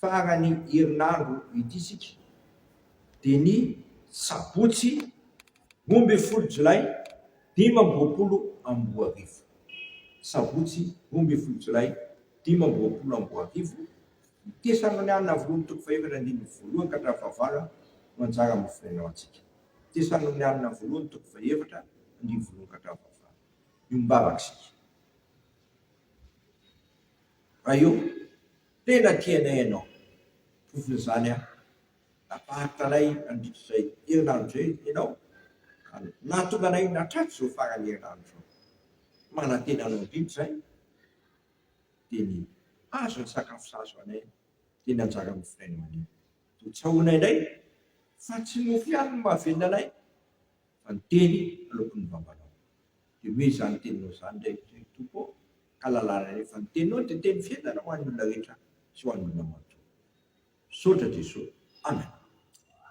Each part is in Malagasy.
Farany herinandro ity isika dia ny sabotsy roa ambin'ny folo jolay dimy amby roapolo amby roa arivo. Sabotsy roa ambin'ny folo jolay dimy amby roapolo amby roa arivo, ny Tesanolianina Avorin'ny toko fahefatra andininy voalohany ka hatramin'ny fahavalony no anjara mahaforenao antsika. Tesanolianina Voalohany toko fahefatra andininy voalohany ka hatramin'ny fahavalony. Io mivavaka isika. Raha eo Tena tianay ianao. Provony izany aho. Nafaritra anay nandritra izay herinandro izay ianao ka nahatonga anay nahatratra izao faran'ny herinandro izao. Manantena anao indrindra izahay dia ny hazo ny sakafo sahaza ho anay dia ny anjara noforainao anio. Dia tsahoanay indray fa tsy mofo ihany no mahavelona anay. Fa ny teny aloaky ny vavanao. Dia omeo izany teninao izany indray ry Tompo ô, ka lalàna indray, fa ny teninao dia teny fiainana ho an'ny olona rehetra sy ho an'olona matoa. Misaotra Jeso. Amen.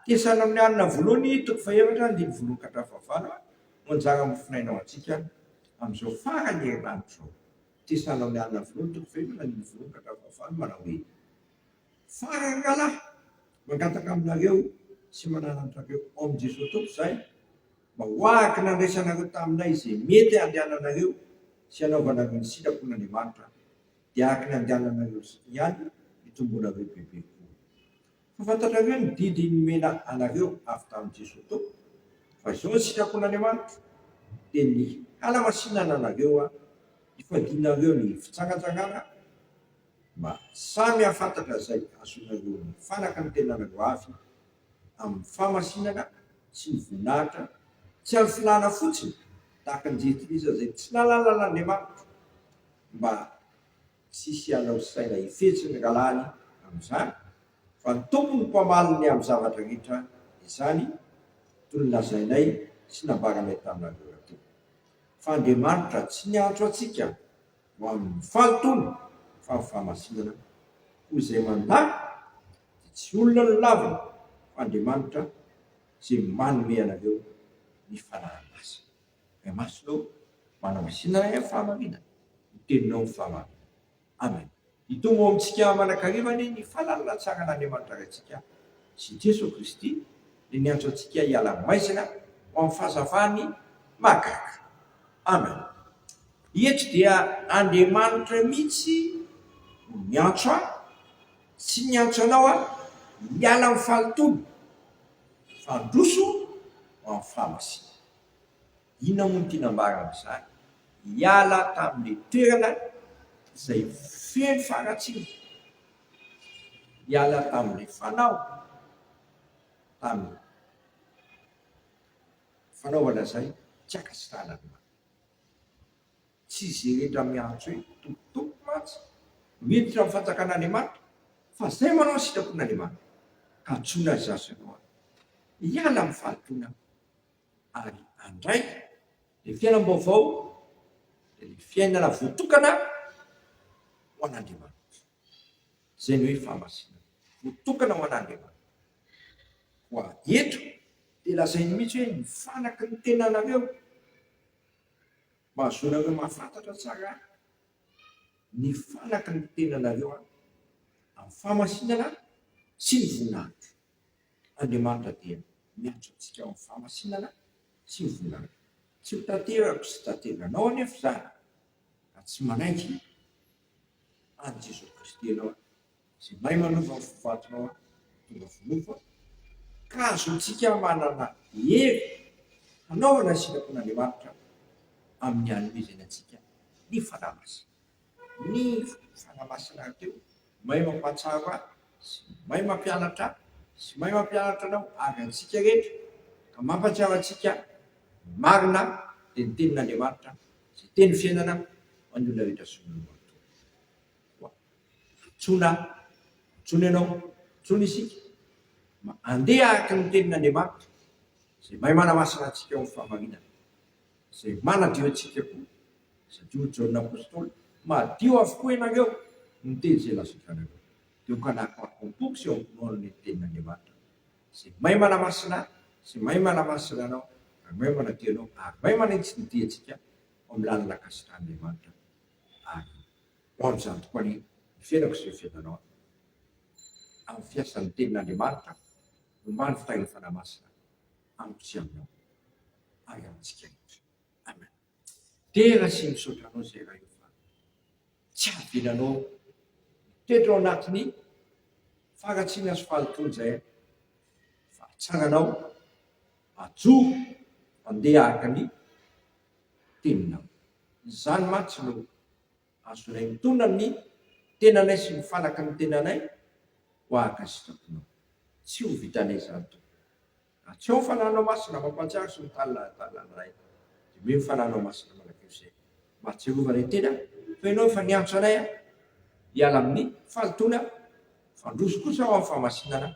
Tesana amin'ny alina voalohany toko fahaefatra andininy voalohany ka hatramin'ny fahavalo no anjara amofonaina ho antsika amin'izao faran'ny herinandro izao. Tesana amin'ny alina voalohany toko fahaefatra andininy voalohany ka hatramin'ny fahavalo manao hoe. Farany ngalahy mangataka aminareo sy manana antrareo ao amin'i Jesoa Tompo izahay mba ho araka ny nandraisanareo taminay izay mety handehananareo sy hanaovanareo ny sitrapon'Andriamanitra dia araka ny andehananareo ihany hitomboanareo bebe koa. Fa fantatrareo ny didy nomena anareo avy tamin'i Jesoa Tompo fa izao ny sitrapon'Andriamanitra dia ny hanamasinana anareo hifadianareo ny fitsangatsangana mba samy hahafantatra izay hahazoana ireo mifanaka ny tenany ho avy amin'ny fahamasinana sy ny voninahitra tsy azo filàna fotsiny tahaka ny jentilisa izay tsy nalalalan'Andriamanitra mba tsy hisy hanao saina hifetsy ny rahalahiny amin'izany fa ny Tompo no mpamaly ny amin'ny zavatra rehetra izany toy ny lazainay sy nambaranay taminareo rahateo fa Andriamanitra tsy niantso antsika ho amin'ny fahataona fa ny fahamasinana koa izay mandà dia tsy olona no lavina fa Andriamanitra izay manome anareo ny fanahy masina. Ray masina ô, manamasina anay amin'ny fahamarinana ny teninao ny fahamarinana. Amen. Hitombo ao amintsika mandrakariva anie ny fahalalahan-tsaran'Andriamanitra Raintsika sy i Jesoa Kristy, dia niantso antsika hiala maizina ho amin'ny fahazavany mahagaga. Amen. Eto dia Andriamanitra mihitsy no miantso ahy, tsy niantso anao aho hiala amin'ny fahalotoana, fa handroso ho amin'ny fahamasina. Inona moa no tiana ambara amin'izany? Hiala tamin'ilay toerana izay feno faharatsiana, hiala tamin'ilay fanao, tamin'ny fanaovana izay tsy ankasitrahan'Andriamanitra. Tsy izay rehetra miantso hoe Tompo Tompo mantsy no hiditra amin'ny fanjakan'Andriamanitra, fa izay manao ny sitrapon'Andriamanitra. Ka antsoina ry zareo hiala amin'ny fahatoniana. Ary handray ilay fiainam-baovao dia ilay fiainana voatokana ho an'Andriamanitra. Izay no hoe fahamasinana, voatokana ho an'Andriamanitra. Koa eto dia lazainy mihitsy hoe ny fanaky ny tenanareo mba hahazoanareo mahafantatra tsara Ahy. Ny fanaky ny tenanareo Aho amin'ny fahamasinana sy ny voninahitro. Andriamanitra dia miantso antsika ao amin'ny fahamasinana sy ny volana. Tsy ho tanterako sy tanteranao anefa izany raha tsy manainga an'i Jesoa Kristy ianao, izay mahay manova ny vovoatinao tonga vonovo, ka azontsika manana hery hanaovana ny sitrapon'Andriamanitra amin'ny hanomezany antsika ny Fanahy Masina. Ny fofona masina teo, may mampahatsiaro ahy sy may mampianatra ahy sy may mampianatra anao ary antsika rehetra ka mampahatsiaro antsika ny marina dia ny tenin'Andriamanitra izay teny fiainana ho an'ny olona rehetra zon'ny Loholontoana. Koa antsoina aho, antsoina ianao, antsoina isika mba handeha araka ny tenin'Andriamanitra izay may manamasina antsika ho fahamarinana. izay manadio antsika koa, satria hoy Jaona Apostoly, Madio avokoa ianareo noho ny teny izay lazainareo, dia hokanako hakompoko sy hamonoano ny tenin'Andriamanitra, izay mahay manamasina ahy, sy mahay manamasina anao, ary mahay manadio anao, ary mahay manitsy ny diantsika ao amin'ny lalan'ny ankasitrahan'Andriamanitra, ary ho amin'izany tokoa anie ny fiainako sy ny fiainanao amin'ny fiasan'ny tenin'Andriamanitra, ombàny fitahian'ny Fanahy Masina. amiko sy aminao ary amintsika rehetra. Amen. Dera sy misaotra anao zay Ray ô fa tsy avelanao mitoetra ao anatin'ny faharatsiana sy fahalotoana zay aho fa atsaranao ajoro andeha araka ny teninao. Izany mantsy no. Azonay mitondra ny tenanay sy ny fanaky ny tenanay ho ankasitraponao. Tsy ho vitanay izany, Tompo. Atsio ny Fananao Masina mampantsiaro sy mitanila adala anay. Diovio ny Fananao Masina manakeo izay mba ahatsiarovanay tena fa Ianao efa niantso anay hiala amin'ny fahalotoana, fandroso kosa ho amin'ny fahamasinana.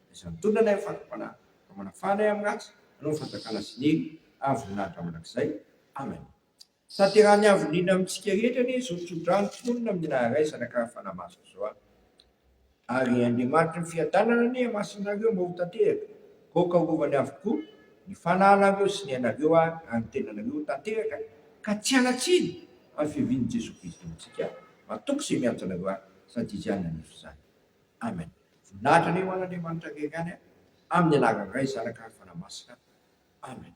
Izany tondra ilay fandramana ka manafahana ahy amin'ny ratsy, hanao ny fanjakana sy ny hery avy ho naha-dra mandrakizay. Amen. Tanterahan'ny Avo indrindra amintsika rehetra anie izao tso-drano tononina amin'ny naha-raisana ka fana-maso izao an! Ary Andriamanitry ny Fiadanana anie hamasin' anareo mba ho tanteraka, goaka horovany avokoa ny fanahinareo sy ny ainareo ary ny tenanareo ho tanteraka ka tsy hanatsiny amin'ny fiavian'i Jesoa Kristy amintsika an! Matoky izay miantso anareo ahy sady Izy ihany hanefy izany. Amen Voninahitra anie ho an' Andriamanitra akaiky any amin' ny anaran' Ray Zanaka ary Fanahy Masina Amen.